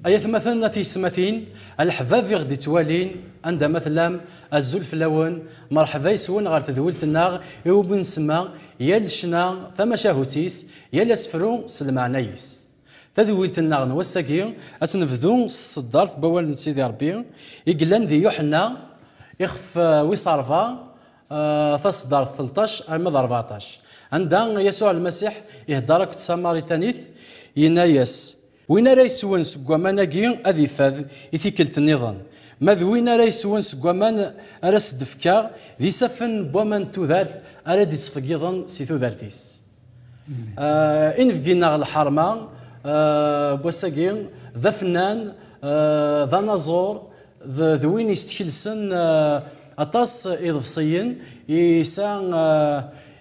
Ay atmaten a tiyesmatin, a leḥbab i ɣ-d-ittwalin, anda ma tellam, azul fell-awen, merḥba yes-wen ɣer tedwilt-nneɣ i wumi nsemma Yal ccna tamacahut-is, yal asefru s lmeɛna-is. Tadwilt-nneɣ n wass-agi ad tt-nebdu s tseddart n wawal n Sidi Rebbi i yellan di Yuḥenna ixef wis ṛebɛa, taseddart telṭac arma d ṛebɛṭac, anda Yasuɛ Lmasiḥ iheddeṛ akked Tamaritanit, yenna-yas, Win ara yeswen seg waman-agi ad ifad i tikkelt nniḍen. Ma d win ara yeswen seg waman ara s-d-fkeɣ, d isaffen n waman n tudert ara d-ittqeyyiḍen si tudert-is. Inebgi neɣ lḥerma n wass-agi d afennan, d anaẓur, d win yestekelsen aṭas iḍebsiyen yesa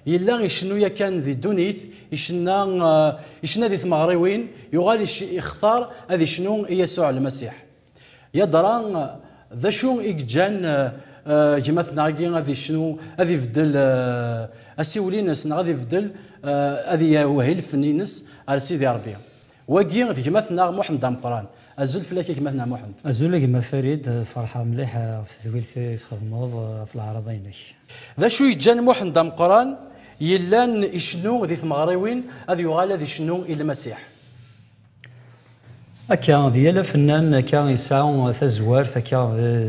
yella icennu yakan di ddunit icenna icenna di tmeɣriwin yuɣal ixtar ad icnu i Yasuɛ Lmasiḥ yadra d acu i yeǧǧan gma-tneɣ-agi ad icnu ad ibeddel asiwel-ines neɣ ad ibeddel ad iwehhi lfen-ines ar Sidi Rebbi Wagi d gma-tneɣ Muḥend Ameqqran. Azul fell-ak a gma-tneɣ Muḥend. Azul a gma Farid, ferḥeɣ mliḥ ɣef tedwilt i txedmeḍ ɣef leɛrada-inek. D acu yeǧǧan Muḥend Ameqqran yellan icennu di tmeɣriwin ad yuɣal ad icennu i Lmasiḥ? Akka, d yal afennan akka yesɛa tazwart akka,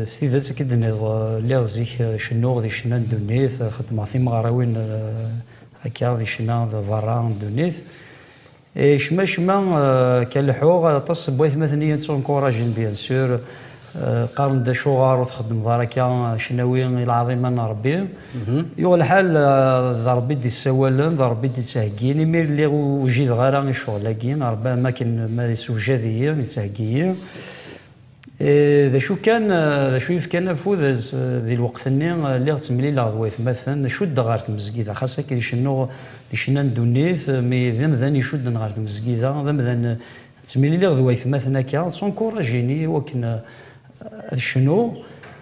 s tidet akka i d-tenniḍ, lliɣ zik cennuɣ di ccna n ddunit, xeddmeɣ timeɣriwin akka di ccna d berra n ddunit, Et cmacma kan leḥḥuɣ aṭas n waytmaten i yi-ttunkurajen bien sûr, qqaren-d acuɣer ur txeddmeḍ ara akka, cnawi i lɛaḍima n Rebbi. Yuɣ lḥal d Rebbi i d-issawalen, d Rebbi i d-ittheggin, imi lliɣ ur wjideɣ ara i ccɣel-agi, neɣ am wakken ma yessewjad-iyi, yettheggi-yi. Eh, d acu kan, eh, d acu yefkan afud eh, di lweqt-nni, lliɣ ttemlileɣ d waytmaten, cuddeɣ ɣer tmezgida, xas akken cennuɣ di cenna n ddunit, mi d amdan icudden ɣer tmezgida, d amdan ttemliliɣ d waytmaten akka, d tunkuraǧ-ini iwakken ad cnuɣ.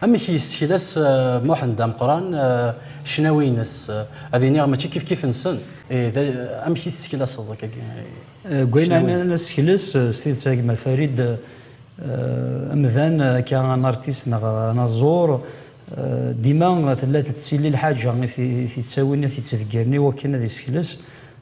Amek i yessekles Muḥend Ameqqran ccnawi-ines? Ad iniɣ mačči kifkif-nsen. Ih, amek i tesseklaseḍ akkagi ccnawi-ines? Gwenan nessekles s tidet a gma Farid, amdan akka un artiste neɣ anaẓur, dima tella tettili lḥaǧa i t-yettawin, i t-yettdeggren i wakken ad yessekles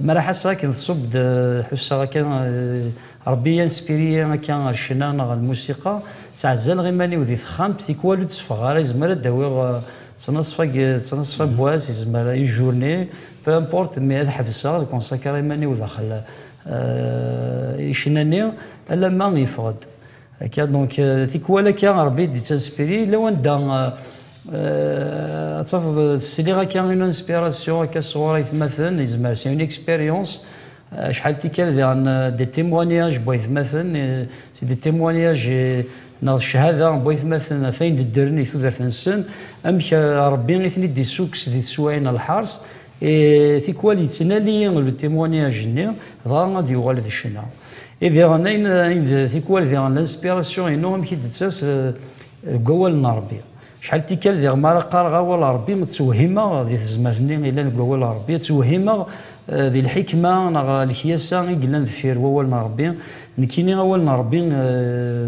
Maraḥ ass akken tṣubb-d, ḥusseɣ akka Rebbi inspire-iyi akka ɣer ccna neɣ ɣer lmusiqa, ttɛezzaleɣ iman-iw di texxamt, tikwal ur d-tteffɣeɣ ara, izmer ad d-awiɣ ttnaṣfa ttnaṣfa n wass, izmer une journée, peu importe, mais ad ḥebseɣ, ad consacrer iman-iw daxel i ccna-nni, alamma yeffeɣ-d. Akka, donc, euh, tikwal akka Rebbi d-ittanspiri, yella wanda euh, ad tafeḍ sliɣ akka une inspiration akka sɣur aytmaten, yezmer c'est une expérience, acḥal euh, tikkal diɣen des témoignages n waytmaten, c'est des témoignages neɣ ccahada n waytmaten ɣef ayen d-ddren i tudert-nsen, amek Rebbi i ten-id-issukkes di teswayin n lḥers, Et tikwal yettnali le témoignage-nni, dɣa ad yuɣal d ccna. Et diɣen ayen ayen d tikwal diɣen l'inspiration-inu amek i d-tettas deg wawal n Rebbi. Acḥal tikkal diɣen mi ara qqareɣ awal n Rebbi ttewhimeɣ di tezmert-nni yellan deg wawal n Rebbi, ttewhimeɣ di lḥikma neɣ lekyasa i yellan deffir wawal n Rebbi. Nekkini awal n Rebbi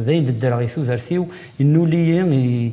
d ayen d-ddreɣ i tudert-iw, yennuli-yi,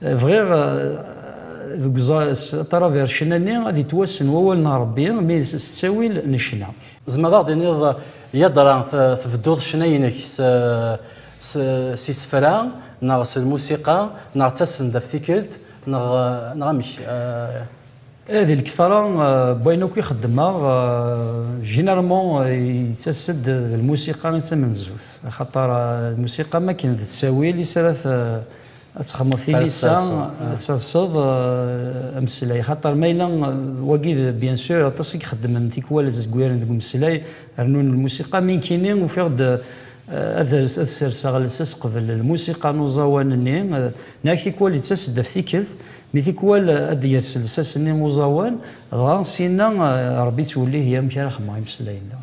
Bɣiɣ deg taravercna-nni ad yettwassen wawal n Rebbi mi s ttawil necna. Tzemreḍ ad ɣ-d-tiniḍ yadra tbedduḍ ccna-inek s isefra neɣ s lmusiqa neɣ d tasendaft tikkelt neɣ amek? Ih, di lketṛa n wayen akk i xeddmeɣ, généralement yettas-d d lmusiqa i d tamenzut, axaṭer lmusiqa am wakken d ttawil i s ara ad texmeḍ tilisa ad terseḍ eh, ameslay xaṭer ma yella eh, wagi bien sûr aṭas i ixeddmen tikwal ad zgwiren deg umeslay rnun lmusiqa mi nkini ufiɣ-d eh, ad serseɣ lsas qbel lmusiqa n uẓawan-nni neɣ tikwal yettas-d af tikkelt mi tikwal ad d-yers lsas-nni uẓawan dɣa sinna rebbi ttwellih yamek ara xedmeɣ imeslayen-nneɣ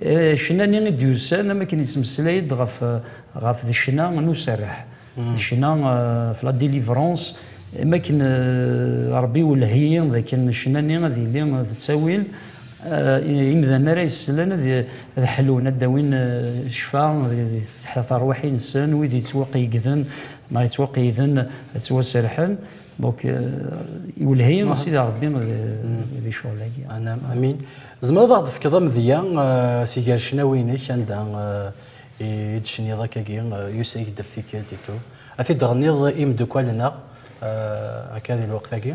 Ccna-nni i d-yusan am akken yettmeslay-d ɣef ɣef d ccna n userreḥ, d ccna ɣef la délivrance, am akken Rebbi iwelleh-iyi d akken ccna-nni ad yili d ttawil, imdanen ara yesslen ad ad ḥlun, ad d-awin ccfa di terwiḥin-nsen, wid yettwaqeyyegden neɣ yettwaqeyyden ad ttwaserrḥen, donc iwelleh-iyi Sidi Rebbi di ccɣel-agi. Anam, amin. Tzemreḍ ad d-fkeḍ amedya si gar ccnawi-inek anda i d-tecniḍ akkagi Yusa-yi-d ɣef tikkelt itu, ad t-id-tɣenniḍ i imeddukal-nneɣ akka di lweqt-agi?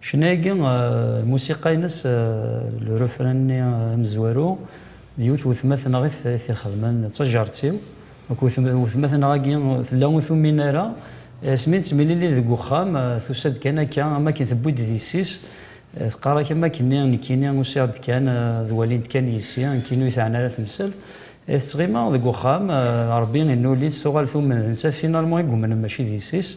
Ccna-agi, lmusiqa-ines, le refrain-nni amezwaru, d yiwet n wetma-t neɣ i t-ixedmen, d tajerrt-iw. Akked wetma-t neɣ agi tella ur tumin ara, asmi nettemlili deg uxxam, tusa-d kan akka am akken tewwi-d d yessi-s, teqqar-ak am akken-nni, nekkini usiɣ-d kan ad walint kan yessi, nekkini ur yi-teɛni ara temsalt. I tettɣima deg uxxam, Rebbi inuli-tt, tuɣal tumen d nettat finalement i yumnen mačči d yessi-s.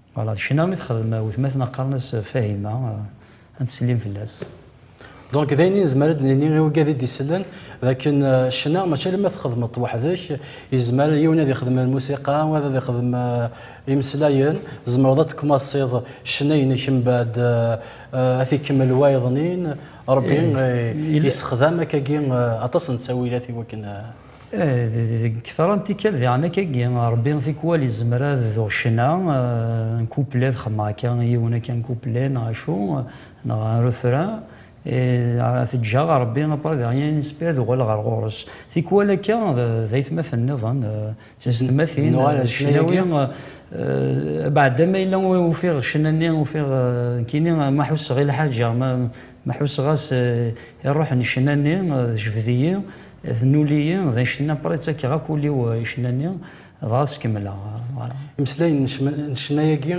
Voilà, d ccna i texdem wetmaten qqaren-as Fahima, ad teslim fell-as. Donc d ayen i nezmer ad d-nini i ugad i d-isellen d akken ccna mačči alamma txedmeḍ-t weḥd-k, yezmer yiwen ad ixdem lmusiqa, wayeḍ ad ixdem imeslayen, tzemreḍ ad d-tkmaṣiḍ ccna-inek mbeɛd ad t-ikemmel wayeḍnin, Rebbi yessexdam akkagi aṭas n ttawilat i wakken. Deg ktra n tikkal diɣen akka-agi, Rebbi tikwal izmer ad d-tuɣ ccna n couplet, ad xedmeɣ akka yiwen akka n couplet neɣ acu, neɣ un refrain, et teǧǧaɣ Rebbi après de rien inspiré ad uɣaleɣ ɣer ɣur-s. Tikwal akka d aytmaten nniḍen, d teztmatin, ccnawi, abeɛda ma yella ufiɣ ccna-nni, ufiɣ nekkini ma ḥusseɣ i lḥaǧa, ma ḥusseɣ-as i ṛṛuḥ n ccna-nni, tejbed-iyi. D nuli-yi, d icenna, pray ttakeɣ akk ul-iw i icenna-nni, dɣa ad s-kemmleɣ. Voilà. Imeslayen n cma- n ccna-agi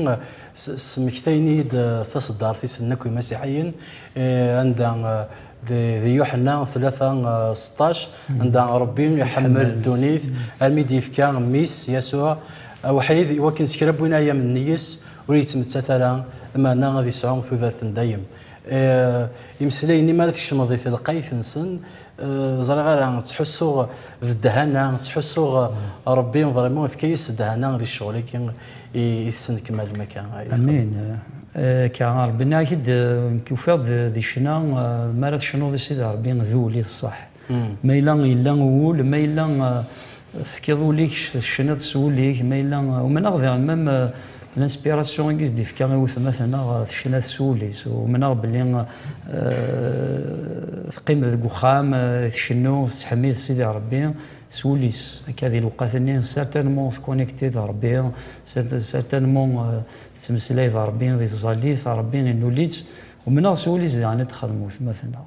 s- smektayen-iyi-d taseddart-is n Akk Imasiḥiyen, eh, anda di di Yuḥenna tlata seṭṭac, anda Rebbi iḥemmel ddunit armi i d-yefka Mmi-s, Yasuɛ, awḥid, i wakken s kra n win ayam n yes ur yettmettat ara, lmeɛna ad isɛu tudert n dayem. Eh, imeslayen-nni mi ara tkecmeḍ di telqayt-nsen, ẓriɣ ara ttḥussuɣ d ddhana, ttḥussuɣ Rebbi vraiment ifka-yas ddhana di ccɣel-agi i tesnekmalem akka. Amin akka a Rebbi nniɣ-ak-id nekk ufiɣ-d di ccna mi ara tecnuḍ i Sidi Rebbi d ul i ṣṣeḥ ma yella yella uwul ma yella Tefkiḍ ul-ik, tecniḍ s wul-ik, ma yella umneɣ diɣen mem l'inspiration i s-d-ifka i wetma-tneɣ tecna-t s wul-is, umneɣ belli teqqim deg uxxam tcennu tettḥemmid Sidi Rebbi s wul-is, akka di lewqat-nni certainement tconnectée d Rebbi, certainement tettmeslay d Rebbi, di tẓallit Rebbi innul-itt, umneɣ s wul-is diɣen i d-txedem wetma-tneɣ.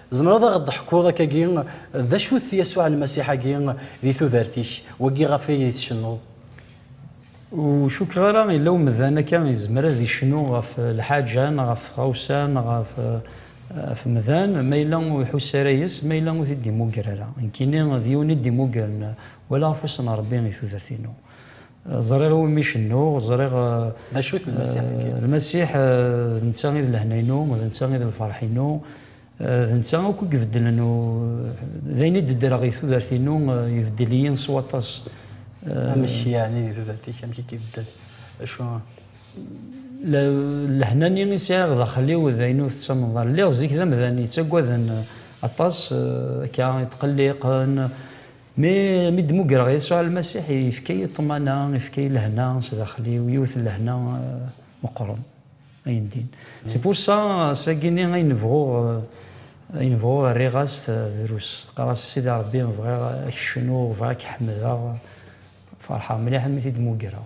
Tzemreḍ a ɣ-d-teḥkuḍ akkagi d acu-t Yasuɛ Lmasiḥ-agi di tudert-ik, wagi ɣef ay di tcennuḍ? Ur cukkeɣ ara yella umdan akka yezmer ad icnu ɣef lḥaǧa neɣ ɣef tɣawsa neɣ ɣef umdan ma yella ur iḥuss ara yes-s, ma yella ur t-id-imugger ara. Nekkini d yiwen i d-imuggren wala ɣef wass n Rebbi i tudert-inu. Ẓriɣ i wumi cennuɣ, ẓriɣ... D acu-t Lmasiḥ-agi? Lmasiḥ d netta i d lehna-inu, d netta i d lferḥ-inu, d netta akk i ibeddlen, d ayen i d-ddreɣ i tudert-inu, ibeddel-iyi s waṭas. Amek yeɛni di tudert-ik, amek i k-ibeddel? Acu? Lehna-nni i sɛiɣ daxel-iw d ayen ur tettamneḍ ara. Lliɣ zik d amdan yettaggaden aṭas, akka, yetqelliqen. Mi mi d-mugreɣ Yasuɛ Lmasiḥ, yefka-yi ṭṭmana, yefka-yi lehna s daxel-iw, yiwet n lehna meqqren, ayen din. C'est pour ça, ass-agi-nni ayen bɣuɣ, ayen bɣuɣ rriɣ-as drus. Qqareɣ-as, Sidi Ṛebbi, bɣiɣ ad k-cnuɣ, bɣiɣ ad k-ḥemdeɣ. Ferḥeɣ mliḥ mi t-id-mugreɣ.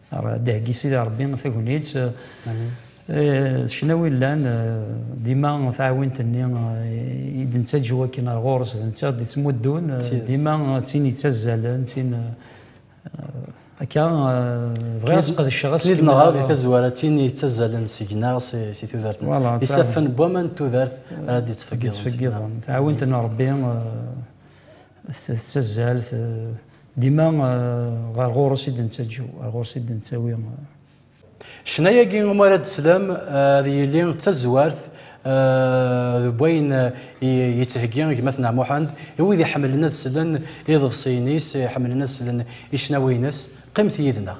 Dehgi Sidi Rebbi tagnit ccnawi llan dima taɛwint-nni i d-nettaǧu akken ar ɣur-s d netta d-ittmuddun dima d tin yettazzalen d tin akka bɣiɣ ad sqedceɣ aseklu Tid neɣra di tazwara d tin yettazzalen seg-neɣ si tudert d isaffen n waman n tudert ara d-ittfeggiḍen taɛwint n Rebbi Tettazzal dima ɣer ɣur-s i d-nettaǧǧew, ɣer ɣur-s i d-nettawi. Ccna-agi umi ara d-teslam ad yili d tazwart deg wayen yettheggi gma-tneɣ Muḥend i wid iḥemmlen ad slen iḍebsiyen-is, iḥemmlen ad slen i ccnawi-ines. Qqimet yid-neɣ.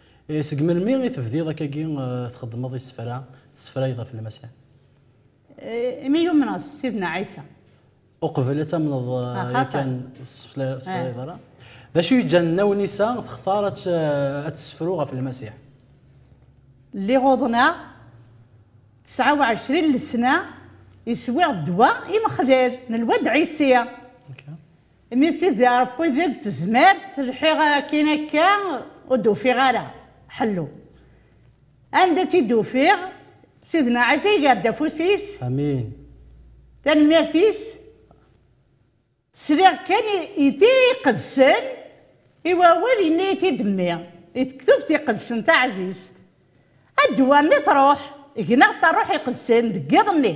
Seg melmi i tebdiḍ akkagi txeddmeḍ isefra, tessefrayeḍ ɣef Lmasiḥ? Imi yumneɣ s Sidna Ɛisa. Uqbel ad tamneḍ yakan ur tessefrayeḍ ara? D acu yeǧǧan Nna Wnisa textar ad tessefru ɣef Lmasiḥ? Lliɣ uḍneɣ tesɛa u ɛecrin lesna, iswiɣ ddwa imexlal n lwad Ɛisi. Imi Sidi Ṛebbi deg tezmert, lḥiɣ akkin akka ur d-ufiɣ ara ḥellu. Anda tt-id-ufiɣ, Sidna Ɛisa iger-d afus-is, tanemmirt-is, sliɣ kan i Tira Iqedsen, i wawal yenna-yi-t-id Mmi, di Tektubt Iqedsen taɛzizt, a ddwa mi truḥ, gneɣ s Ṛṛuḥ Iqedsen deg yiḍ-nni.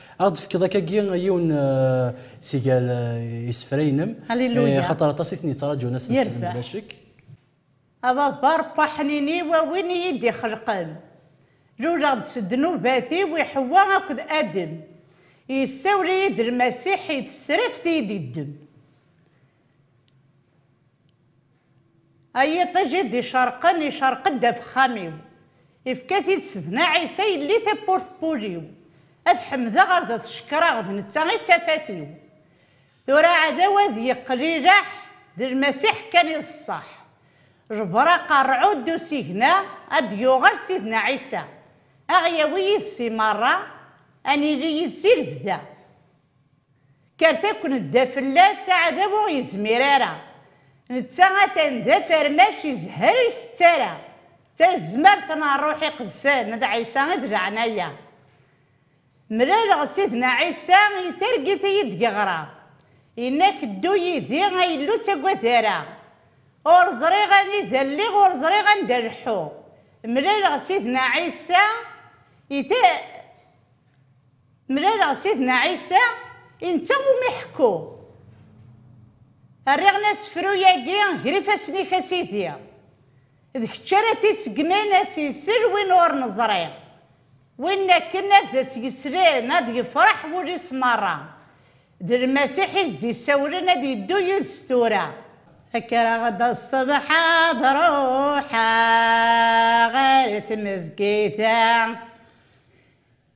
Ad aɣ-d-tefkeḍ akkagi yiwen si gar isefra-inem, axaṭer aṭas i ten-yettraǧun ass n ssebt bla ccek. A Baba Ṛebbi aḥnini-w, a win i yi-d-ixelqen, luleɣ-d s ddnubat-iw i Ḥewwa akked Adem, yessawel-iyi-d Lmasiḥ i tesraft i yi-d-yeddem. A yiṭij i d-icerqen, icerq-d afexxam-iw. Ifka-t-id s dna Ɛisa yelli tawwurt n wul-iw. A t-ḥemdeɣ ar d t-cekkreɣ d netta i d tafat-iw. Tura aɛdaw ad d-yeqqel ileḥ, d Lmasiḥ kan i d ṣṣeḥ. Jber aqerɛu ddu usigna, a d-yuɣal Sidna Ɛisa. A ɣ-yawi yid-s i meṛṛa, a nili yid-s i lebda. Kkret akk nedda fell-as, aɛdaw ur ɣ-yezmir ara. Netta atan d afermac izehher ur isett ara. D tazmert n Ṛṛuḥ Iqedsen d Ɛisa i d leɛnaya. Mlaleɣ Sidna Ɛisa i targit i yi-d-yeɣra, yenna-ak ddu yid-i a Illu ur ttagad ara. Ur ẓriɣ anida lliɣ ur ẓriɣ anda leḥḥuɣ. Mlaleɣ Sidna Ɛisa i. Mlaleɣ Sidna Ɛisa, i netta umi ḥekkuɣ. Rriɣ-n asefru-agi ger ifassen-ik a Sidi. D kečč ara t-iseggmen ad s-yessel win ur neẓri. Win akken ad as-yeslen ad yefreḥ wul-is merra. D Lmasiḥ i s-d-isawlen ad yeddu yid-s tura. Kkreɣ-d ṣṣbeḥ ad ruḥeɣ ɣer tmezgida.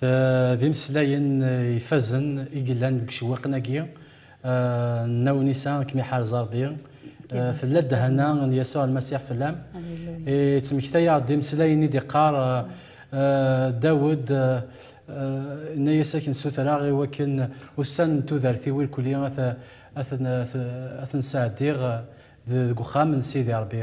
D imeslayen ifazen i yellan deg icewwiqen-agi n Nna Unisa, ad kem-iḥarez Rebbi, tella ddehana n Yasuɛ Lmasiḥ fell-am. Yettmekta-aɣ-d imeslayen i d-iqqar Dawed, Yenna-yas, Ad k-nessutreɣ i wakken ussan n tudert-iw irkeli ad ten-sɛeddiɣ deg uxxam n Sidi Rebbi.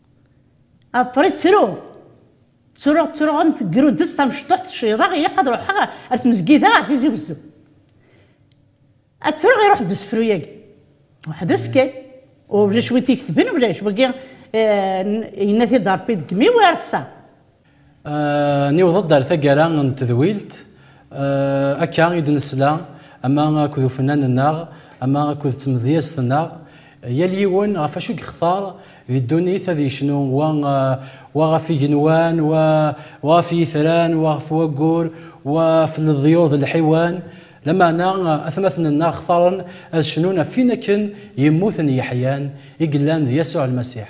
Aṭri ttru. Ttruɣ ttruɣ am tegrudes tamecṭuḥt cciḍeɣ ilaq ad ruḥeɣ ar tmezgida ar tizi wezzu. Ad ttruɣ iruḥ-d usefru-yagi. Weḥd-s kan. Ulac wi t-iketben ulac. Wagi yenna-t-id Rebbi deg imi-w ireṣṣa. Niweḍ-d ar taggara n tedwilt, akka i d-nesla ama akked ufennan-nneɣ ama akked tmedyazt-nneɣ, yal yiwen ɣef wacu i yextar di ddunit ad yecnu, wa wa ɣef igenwan, wa wa ɣef yitran, wa ɣef waggur, wa ɣef leḍyur d lḥiwan, lameɛna atmaten-nneɣ xtaren ad cnun ɣef win akken yemmuten yeḥyan, i yellan d Yasuɛ Lmasiḥ.